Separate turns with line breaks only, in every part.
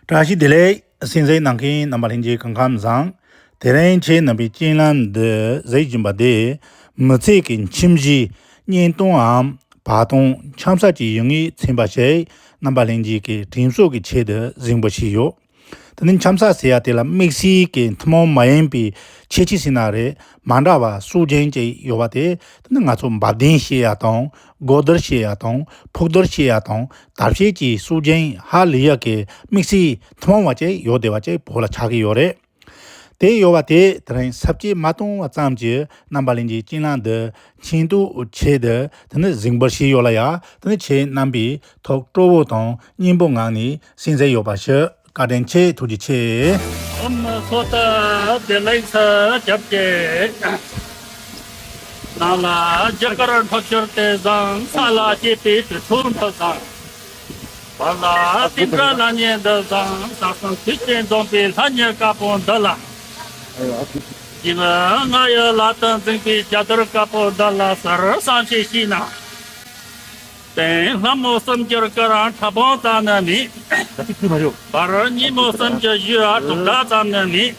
བཀྲ་ཤིས་བདེ་ལེགས། སྲིད་འཛིན་གནང་མཁན་རྣམ་པ་ལྷན་རྒྱས་གང་ཁ་མི་བཟང། དེ་རིང་ཁྱེད་རྣམ་པའི་སྤྱན་ལམ་འདི་གཟིགས་བཞིན་པ་དེས། མི་ཚེ་གི་ཁྱིམ་གཞི། གཉེན་སྟོང་འམ། བ་དང། འཆམ་ས་ཀྱི་ཡུལ་ངེས་ཚན་པ་ཞིག་རྣམ་པ་ལྷན་རྒྱས་ཀྱི་དྲིན་གཟོ་གི་ཆེད་དུ་གཟིགས་འབུལ་བྱས་ཡོད། དེ་ནི་འཆམ་ས་ཟེར་ཡ་དེ་ལ་དམིགས་བསལ་གྱི་ཐུན་མོང་མ་ཡིན་པའི་ཁྱད་ཆོས་ཟིན་ན་རེད་མ་འདྲ་བ་སུག་རྒྱན་ཅིག་ཡོད་པ་དེ་དེ་ནི་ང་ཚོ་འབབ་ལྡན་ཤེས་ཡ་དང་སྒོ་རྡོར་ཞེས་ཡག་དང་ཕུག་རྡོར་ཞེས་ཡག་དང་དར་ཤེལ་གྱི་སུག་རྒྱན་ཧ་ལི་ཡག་གི་དམིགས་བསལ་ཐུན་མོང་བ་བཅས་ཡོད་བདེ་བ་བཅས་བོད་ལ་ཆགས་ཀྱི་ཡོད་རེད་དེ། ཡོད་བ་དེས་དེ་རིང་ཟབ་ཁྱད་མ་བཏང་བ་ཙམ་གྱིས་རྣམ་པ་གླིང་གི་གཅིན་ལང་འདི་ཆེན་དུ་ཆེ་འདི་དེ་ནི་གཟིགས་འབུལ་བྱས་ཡོད་ལ་ཡག་དེ་ནི་ཁྱེད་རྣམ་པའི་ཐོག་སྤྲོ་བོ་དང་སྙིང་པོ་ངང་ནས་གསན་བསྲེ་ཡོད་པ་ཞིག། བཀའ་དྲིན་ཆེ་ཐུགས་རྗེ་ཆེ། ཨོམ་མོ་ཚོ་ལྟ་
བདེ་ལེགས་ས་རྒྱབ་སྐྱེ། ནང་ལ་རྒྱ་གར་འཕགས་ཞོར་དེ་བཟང་ས་ལ་སྐྱེས་པའི་དུས་ཚོད་འདི་བཟང། བར་ལ་སྟེང་དགྲ་ལ་ཉེ་འདི་བཟང་ས་གསང་ཐུགས་རྗེ་འཛོམས་པའི་ལྷ་ཉེར་དཀར་པོ་འདི་ལ། གཞི་མི་ང་ཡི་ལག་ཏུ་འཛིངས་པའི་རྒྱ་དར་དཀར་པོ་འདི་ལ་གསེར་བསང་ཞིག་ཞུས་ན། དེང་སླ་མོ་བསམ་རྒྱུར་སྐུ་རང་ཕྲ་པོང་ཙམ་ནི་མེད། བར་སྙིང་མོ་བསམ་རྒྱུར་གཞུ་བ་དྲུག་སྦྲགས་ཙམ་ནི་མེད།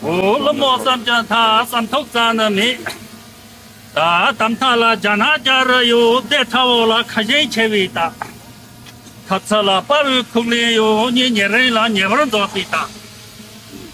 འོ་ལོ་མོ་བསམ་རྒྱུར་མཐའ་བསམ་ཐུག་ཙམ་ནི་མེད། ད་ལྟ་མཐའ་ལ་རྒྱ་ནག་རྒྱ་རི་ཡོད་ཚད་ཕྲ་བོ་ལ་ཁ་ཞེང་ཆེ་བའི་རྟགས། ཐབས་ཚུལ་ལ་དཔའ་བོའི་ཁུག་ལན་ཡོད་ཉིད་ཉེ་རིང་ལ་ཉེ་བར་འདོགས་པའི་རྟགས།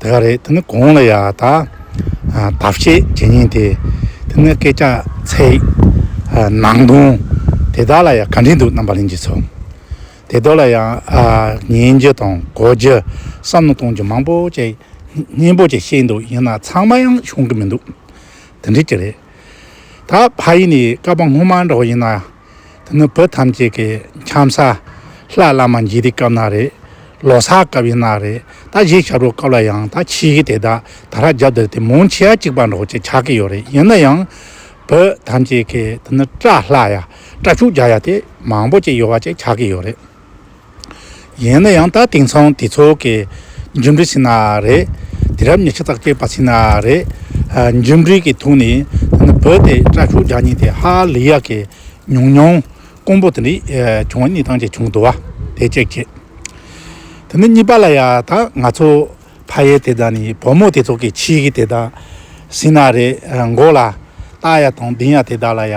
དེ་ག་རེད་དེ་ནི་གང་ལ་ཡ་ད་ལྟ་བཤད་བྱེད་ཉན་དེ་དེ་ནི་སྐད་ཆ་ཚད་ནང་དོན་དེ་དག་ལ་ཡང་ག་འདྲས་འདུག་རྣམ་པ་གླེང་རྒྱུ་ཚོ་དེ་དག་ལ་ཡང་ཉན་རྒྱུ་དང་གོ་རྒྱུ་བསམ་བློ་གཏོང་རྒྱུ་མང་པོ་བཅས་སྙན་པོ་བཅས་བཤད་འདུག་ཡིན་ན་ཚང་མ་ཡང་ཤོང་གི་མི་འདུག་དེ་འདྲས་ཀྱི་རེད་ད་ཕ་ཡིན་ནས་བསྐལ་པ་སྔོན་མ་འདྲ་བོ་ཡིན་ན། འདི་ནི་བོད་ཐམས་ཅད་ཀྱི་འཁྱམ་ས། ལྷ་བླ་མ་འཇིག་རྟེན་སྐབས་ན་རེ། ལོ་སར་སྐབས་ཡིན་ན་རེ། ད་གཞས་ཞབས་བྲོ་སྐབས་ལ་ཡང་ད་ཁྱི་ཡི་དེ་དག་ད་ར་རྒྱབ་དེར་དེ་མུང་ཆི་ཡ་གཅིག་པ་འདྲོགས་ཅེས་ཆགས་ཀྱི་ཡོད་རེད་ཡིན་ན་ཡང། བོད་ཐམས་ཅད་ཀྱི་དེ་ནི་སྐྲ་ལྷག་ཡ་སྐྲ་ཕྱུག་རྒྱག་ཡ་དེ་མང་པོ་ཅིག་ཡོད་བ་ཅིག་ཆགས་ཀྱི་ཡོད་རེད། ཡིན་ན་ཡང་ད་དེང་སང་དེ་ཚོ་གི་འཇུ་འབྲས་ཕྱིན་ན་རེད། དེ་རབས་ཉི་ཁྲི་དག་སྐྱེས་པ་ཕྱིན་ན་རེད། འཇུ་འབྲས་ཀྱི་ཐུགས་ནས་ད་ནི་བོད་དེ་སྐྲ་ཕྱུག་རྒྱག་ཉེན་དེ་ཧ་ལི་ཡ་གི་ཉུང་ཉུང་རྐོང་པོ་དེ་འདྲས་བྱུང་བ་གཉིས་དང་གཅིག་བྱུང་འདུག་བ་དེ་གཅིག་བྱས། དེ་ནི་གཉིས་པ་ལ་ཡ་ད་ང་ཚོ་ཕ་ཡེ་དེ་དག་ནས་བུ་མོ་དེ་ཚོ་གི་ཕྱིས་ཀྱི་དེ་དག་ཟིན་ན་རེད་མགོ་ལ་སྟག་ཡ་དང་གདན་ཡ་དེ་དག་ལ་ཡ།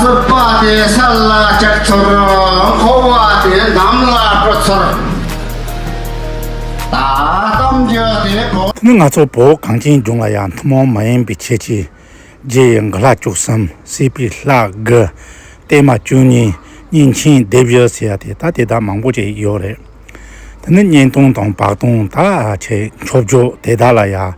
ཟུར་པ་དེ་ས་ལ་བཅག་ཚོར་འཁོར་བ་དེ་གནམ་ལ་སྤྲོ་ཚོར། གཏམ་རྒྱུད་དེ་བོ། ནི་ང་ཚོ་བོད་གངས་
ཅན་ལྗོངས་ལ་ཡང་ཐུན་མོང་མ་ཡིན་པའི་ཁྱད་ཆོས་རྗེ་ཡི་འགུ་ལྷ་བཅུ་གསུམ་བསྲེས་པའི་ལྷ་དགུ། བརྟན་མ་བཅུ་གཉིས་གཉིས་མཆིན་སྡེ་བཞི་ཟེར་ཡ་དེ་ད་དེ་དག་མང་པོ་ཅིག་ཡོད་རེད། དེ་ནི་གཉན་སྟོང་དང་བག་སྟོང་དག་ཆེ་མཆོག་མཆོག་དེ་དག་ལ་ཡང།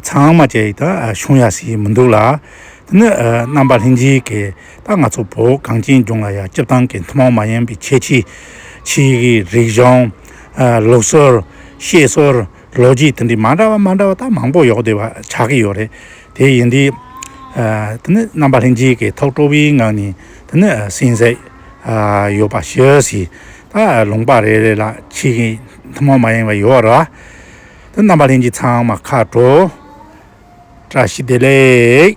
ཚང་མ་བཅས་ཡིག་དང་གཞུང་ཡག་ཞིག་མི་འདུག་ལ། དེ་ནི་རྣམ་པ་ལྷན་སྦྱིན་གྱི་ད་ང་ཚོ་བོད་གངས་ཅན་ལྗོངས་ལ་ཡང་སྤྱིར་བཏང་གི་ཐུན་མོང་མ་ཡིན་པའི་ཁྱད་ཆོས། ཕྱིའི་རིག་གཞུང། ལུགས་སྲོལ། བཤད་སྲོལ། ལོ་རྒྱུས་དེ་འདྲའི་མ་འདྲ་བ་མ་འདྲ་བ་ད་མང་པོ་ཡོག་བསྡད་པ་ཆགས་ཀྱི་ཡོད་རེད། དེ་ཡིན་དུས། དེ་ནི་རྣམ་པ་ལྷན་སྦྱིན་གྱི་ཐོག་སྤྲོ་བའི་ངང་ནས་དེ་ནི་སྲིན་བསད་ཡོད་པ་ཤི་ཟིན་ད་ལུང་པ་རེ་རེ་ལ་ཕྱིའི་ཐུན་མོང་མ་ཡིན་པ་ཡོད་རེད། དོན་རྣམ་པ་ལྷན་ཅིག་ཚང་མ་མཁའ་འགྲོ་བཀྲ་ཤིས་བདེ་ལེགས།